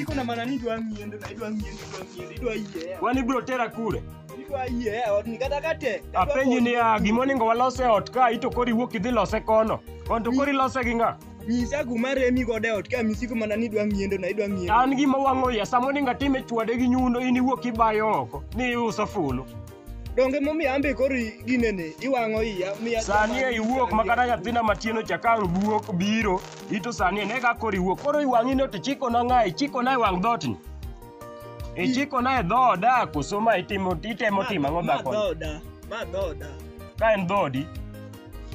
Iko na maana ni dwa ngiende na idwa ngiende idwa ngiende idwa yie. Wan ibiro tera kure? Idwa yie ot ni kata kate. Apenji ni ya gima onego walos e ot ka ito kori wuok idhi lose kono. Kon to kori lose gi ng'a? Nyisa kuma remi godo e ot ka misiko mana ni idwa ngiendo na idwa ngiendo. An gima wang'o ya sama onego atim e chwade gi nyundo in iwuok ibayo oko ni iuso fulu. Donge momiyo ambe kori ginene iwang'o iya miya. Sani e iwuok ma kata nyathina matieno chakang' buok biro Ito sani ene kaka oriwo koro iwang'i ni to ichikona ng'a ichikona e wang' dhootni ichikona e dhooda koso ma itimo itemo timo ang'o Ma dhakoni dhooda. Ma dhooda. ka en dhoodi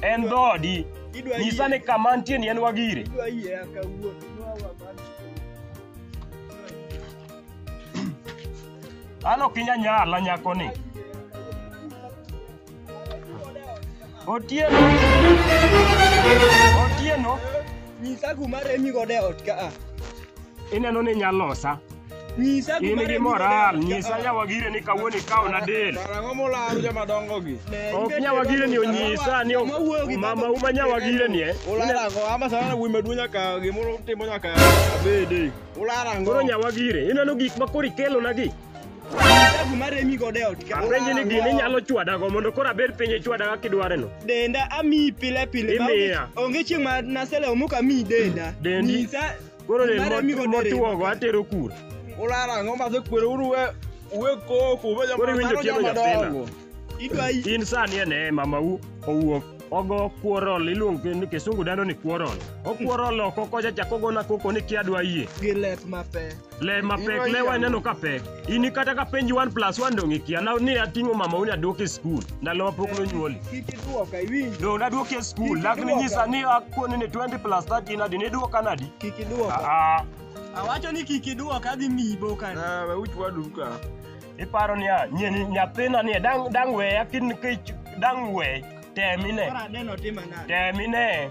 en dhoodi Idwa nyisa ni yie- kama nitie ni en wagire idwa yie aka wuon. Nwa wa man. an ok inya nyala nyakoni Otieno. Otieno. Nyisa kuma remi godo e ot ka a. Ineno ni inyalo losa. Nyisa In kuma gi remi godo e moral, ot ka nyisa a. nyawagire ni kawuono ikaona del. Karang'o molaro joma dongo gi? Ne, Ok ibedo nyawagire ni jadolo onyisa ni Sama wuoyo gi mama uma nyawagire ni eh. Ularo ang'o? Ama sana wuoyi maduong' nyaka gimoro timo nyaka abede. Ularo ang'o? Koro nyawagire, ineno gik ma koro ikelonagi. Dagu mare mi gode ot ka. Apenji ni gini inyalo chwadago mondo koro abed piny ichwada kaka idwareno. Denda ami pile pile. ma Imiya. onge- Onge chieng' ma nasele omuka mi denda. Dendi. Nyisa. Koro del Mare mi mot- gode rem. motwogo atero kure. Ulara ang'o ma sekwero uru we we koko we Koro iwinjo tielo nyathina. Idwa i- In sani ene mamau owuok ogo kuorol iluongo ke- ni kisungu dendo ni kuorol. Okuorol oko kocha chako gona koko ni kia dwa yie. gi lep mapek. Le mapek le waneno ka pek. Ini kata ka penji 1 plus 1 dong ikia. Na ni ating'o mama uni aduoke skul. Ndalo ma pok nonyuoli. Kik iduoka iwinjo. Dong naduoki e skul. Kik Lakini iduoka. nyisa ni akoni ni 20 plus 30 nadi ni duoka nadi. Kik iduoka. Ah, Awacho ni kik iduoka adhi miyi boka. Ah, we uch wadu ka. iparo ni ah, nyeni nyathina ni dang dang we akin kech dang we temine. Kora neno tima nade. Temine.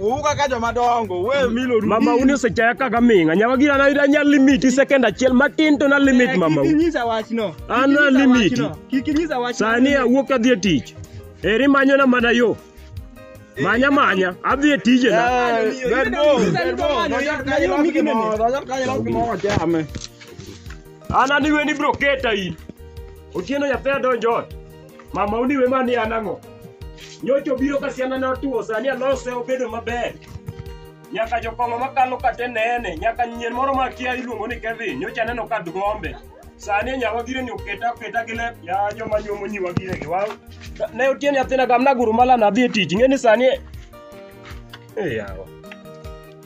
Uwu kaka joma dongo, we milo rubi. Mama uni osechaya kaka ming'a. Nyawa gina na ida nya limit i second achiel matin to na limit mama. Kik inyisa wachno. Kik An na inyisa limit. wachno. Kik inyisa wachno. Sani awuok adhi e tich. Eri manyo na mana yo. Manya manya, adhi e tije na. Eh, bed bo, bed bo. Dojot kanyo ilos gimoro, dojot kanyo ilos gimoro chame. An adiweni bro keta in. Otieno nyathi adonjo ot. Mama uniwe mani an ang'o? Nyocha obiro ka siana ne otuo, sani alose obedo maber. Nyaka jokong'o makalo kate nene, nyaka nyien moro ma kia iluongo ni Kevin, nyocha aneno ka dgombe. Sani nyawa gire ni oketa oketa gi lep, ya joma nyuomo nyiwa gire gi waw. Ne otieni athina gam naguru mala nadhi e tich, ing'e ni sani Eh yawa.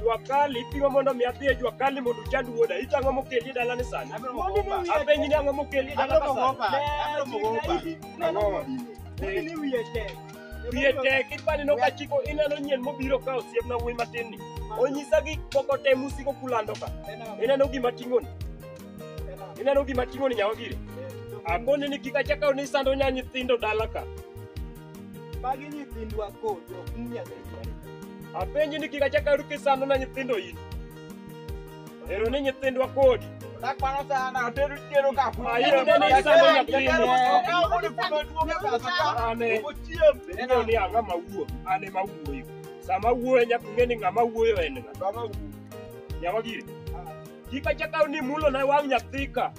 Jua kali ipimo mondo mi adhi e jua kali mondo uchand wuoda. Ito ang'o mokeli e dalani sani? Abiro moko opa. Apenji ni ang'o mokeli e Abiro dalani moko opa. sani? Abiro moko opa. Ang'o? Wiye tek ipani no ka chiko ineno nyien mobiro ka osiep na wuoyi matin ni. Onyisa gik moko te musiko kulando ka. Ineno gima ting'oni. Ineno gima ting'oni nyawagire. Akoni ni kik achaka ni sando nya nyithindo dala ka. Magi nyithindwa kodi ok ni Nyasaye dware. Apenji ni kik achak aru kisando na nyithindo in. Ero ni nyithindwa kodi. Nakwano sana otedo tero ka fu. Ayi, Neno neno ni sando nyathini. Jatero okawo kodi kuma duoge pesa ka. Ane. Ochiem. Neno ni ang'a ma wuo. Ane ma wuoyo. Sama wuoyo nyaka ung'e ni ng'ama wuoyo en ng'a. Baba wu. Nyawagire. Kik achak aru ni mulo na wang' nyathika.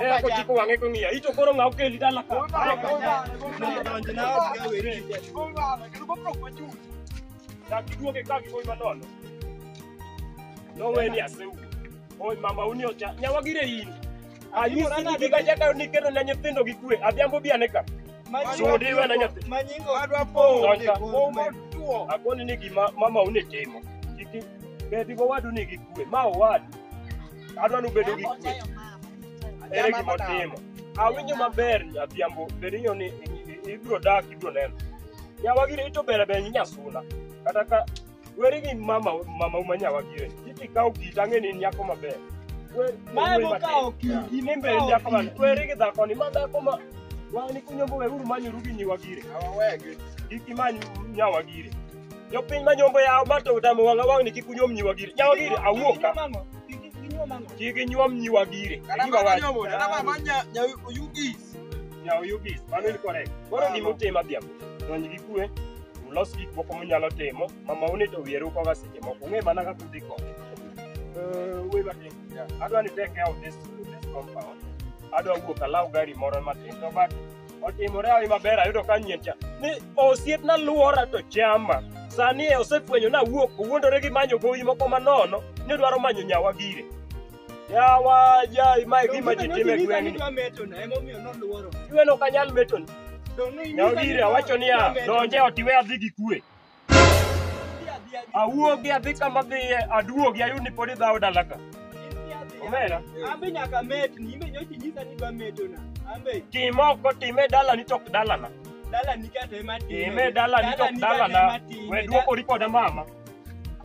Era ko chiko wange ko ngiya. Ito koro ngau keli dala ka. Dakiduoke ka gikoi manono. Noweni aseu. Oi mama uni ocha. Nyawagire in. Ayusi ni giga jaka ni kero na nyithindo gi kwe. Adhiambo biane ka. Sudi we na nyathi. Manyingo adwa po. Donja. Omotuo. Akoni ni gima mama uni timo. Kiki. Bedi go wadu ni gi kwe. Ma owadu. adwa ni ubedo gi kwe ere gima otimo awinjo maber adhiambo berinyo ni ibiro dak ibiro neno nyawagire ito ber ber nyasuna kata ka weri gi mama mama uma nyawagire kiti kawo kit ang'e ni nyako maber Mae mokawo kit- ine mbere mokawo nyako man weri gi dhako ni ma dhako ma wani kunyombo weruru manyoru gi nyiwagire Awawegi. kik imany nyawagire Jopiny ma nyombo yawo ma to tamo wanga wang' ni kik unyom nyiwa gire. Nyawa gire awuok ka. Kik inyuom nyiwa gire. Kata Gima ma wacho. nyomo, kata ma ma nya nya yugis. Nyawa yugis. Mano ni correct. Koro gima utim adhiambo. Donj gi kue. Ulos gik moko munyalo timo. Mama une to wiye ruko ga seche moko. Ung'e mana kaka udhi kode. Eh, we ba ting. Adwa ni take out this this compound. Adwa wuok alaw gari moro matin to but otimore hawi maber ayudo ka nyien cha ni osiepna luora to chama sani e osefwenyo ni awuok owuondore gi manyo gowi moko manono ni odwaro manyo nyawa gire yawa jai mae gima ji time gweng'ni iweno ok anyal metoni nyawa gire awacho niya donje ot iwe adhi gi kwe awuogi adhi kama dhiye aduogi ayud ni pod idhawo dalaga omera Ambe nyaka metni, imbe nyochi nyisa ni dwa metona. Ambe tim oko tim e dalani to ok dalana dala nikata ema time. tim e dalani to ok dalana we duokori koda mama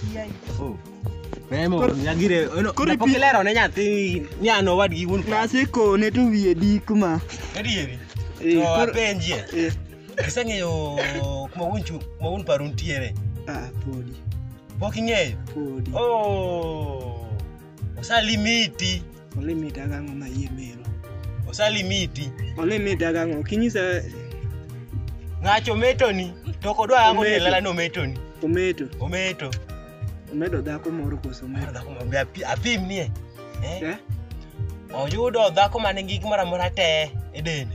Kiai. Oh. Memo, Kor- nyagire, ono, kor ipi- kapok ilero ne nyathi ni an owadgi wuon klas. Naseko ne to wiye dik ma. Adieri. Eh, To kor- apenjie. Eh, Iseng'eyo kuma wuon chu, kuma wuon paru nitiere. ah, podi, Pok ing'eyo. podi. Oh. osalimiti olimit agang'o ma iye mero osalimiti olimit agang'o ok inyisa ng'acho metoni to ok odwa yango ni Ometo. elela ni ometoni ometo ometo omedo dhako moro koso Mar ometo dhako ma- be api- apim nie Eh? Eh? oyudo dhako ma nigi gimoro amora te e dende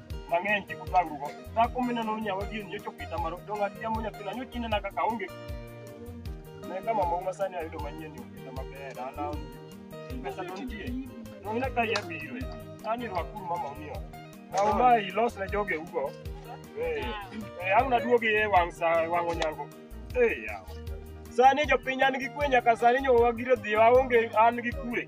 mang'eny kik utangrugo. Dhako mineno ni nyawa gini nyocha okita maro dong' atiamo nyathina nyocha inena kaka aonge ne ka mamau ma sani ayudo manyien ni okita maber an aonge pesa to nitie dong' ina ka iya biro ani rwakuru mamau ni ot kaw ma ilos ne joge ugo Eh, eh, ang' naduogi e wang' sa wang' onyango Eh, yawa. sani jopiny an gi kwe nyaka sani nyowa gire dhiyo aonge an gi kwe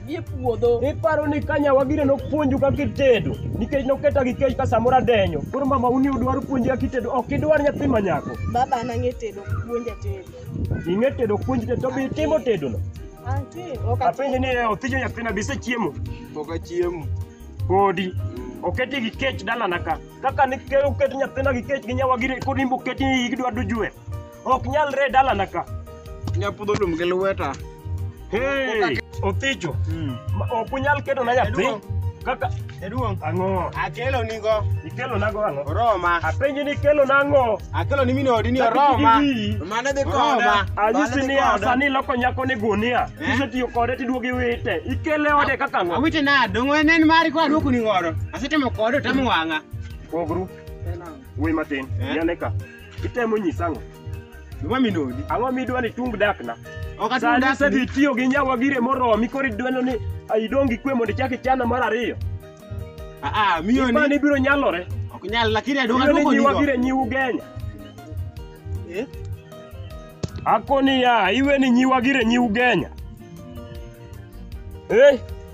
gi e puodho. Iparo ni ka nyawagire nopuonju kaka itedo nikech noketa gi kech ka samoro adenyo. Koro mama uni udwaro puonji kaka itedo ok idwar nyathi ma nyako. Baba an ang'e tedo puonja tedo. Ing'e tedo puonji tedo to be itimo tedono. Antie ok Apenje ni eh, othijo nyathina be isechiemo? Pok achiemo. Podi. Oketi gi kech dalana ka. Kaka ni ke- oket nyathina gi kech gi nyawagire kod imbe oketi ni idwa dujwe. Ok nyalre e dalana ka. Nyapudho lum gi lweta. Hey, Othicho, Mm. ma- ok unyal ketona nyathi Jaduong'. kaka Jaduong', ang'o? akelo nigo Ikelonago ang'o? oroma. Apenji ni ikelona ang'o? Akelo ni min odi ni Lakini oroma. gigi- Mane dhi Oroma. koda. Anyisi Mane dhi ni koda. sani iloko nyako ni gunia. Eh? Kisetiyo kode tiduogo iwite. Ikele ode kaka ang'o? Awite nade? Dongo en en mari kwa duoku ni godo. Asetemo kode otamo wang'a. Pogru. We matin. Eh? Yaneka. Itemo nyisa ang'o? Gima minodi. Ang'o midwa ni tung dakna? Ok atung Sani dakni. isedhi itiyo gi nyawa gire moromi koro idweno ni ah, idong' gi kwe mondo ichak ichana mar ariyo. Ah, ah, miyo ni. Mani biro nyalore. Ok nyal lakini adong' Idweno adwoko ni nyiwa nigo. gire nyiu genya. Eh? Ako niya, iwe ni nyiwa gire nyiu genya. Eh?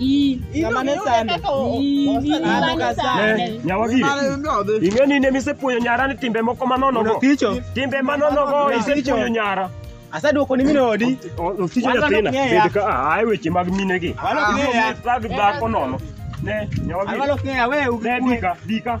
Ii, Kamane sande. Ii, ii, An ok asande. Eh, Nyawagiri, ing'e ni ne misepuoyo nyara ni timbe moko manonogo. Oticho. Timbe manonogo isepuoyo nyara. Asaduoko ni min odi. Oticho Wan nyathina, ok ng'eya. bed ka a- ae weche mag minegi. Wan ok ng'eya. Ibiro mi thag dhako nono. Ne, An Nyawagiri, walo kng'eya we ne dika, dika.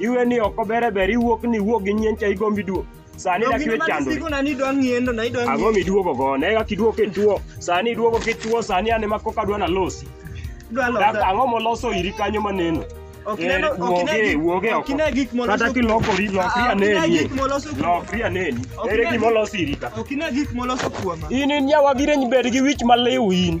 iwe ni oko bere ber iwuok ni iwuok gi nyien cha igombi duo sani dak iwe chandori Sigona ni idwa ng'iendo na idwa ang'o ng'iendo. miduogo go ne kaka iduogo kituo sani iduogo kituo sani ane ma koka dwa nalosi Idwa Dak losa. ang'o moloso iri kanyo maneno Ok Eh, ineno- ok ine wuoge gik- wuoge ok oko ine gik moloso- kata kilokori lokri Ah, ok ine aneni gik moloso kuom- lokri aneni Ok ere ine gima gik- olosi iri ka Ok ine gik moloso kuoma. in in yawa gireny bed gi wich maliw in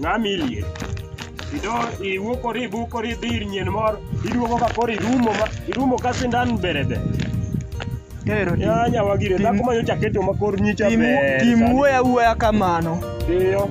Ng'ami liet. Ido iwuokori ibukori idhi ir nyien moro iduogo ka koro irumo ma irumo ka sindan berebe. Ero tim- Ya nyawa gire tim- dhako ma nyocha keto ma kor nyicha tim- ber. tim sani. wuoya wuoya kamano. Iyo.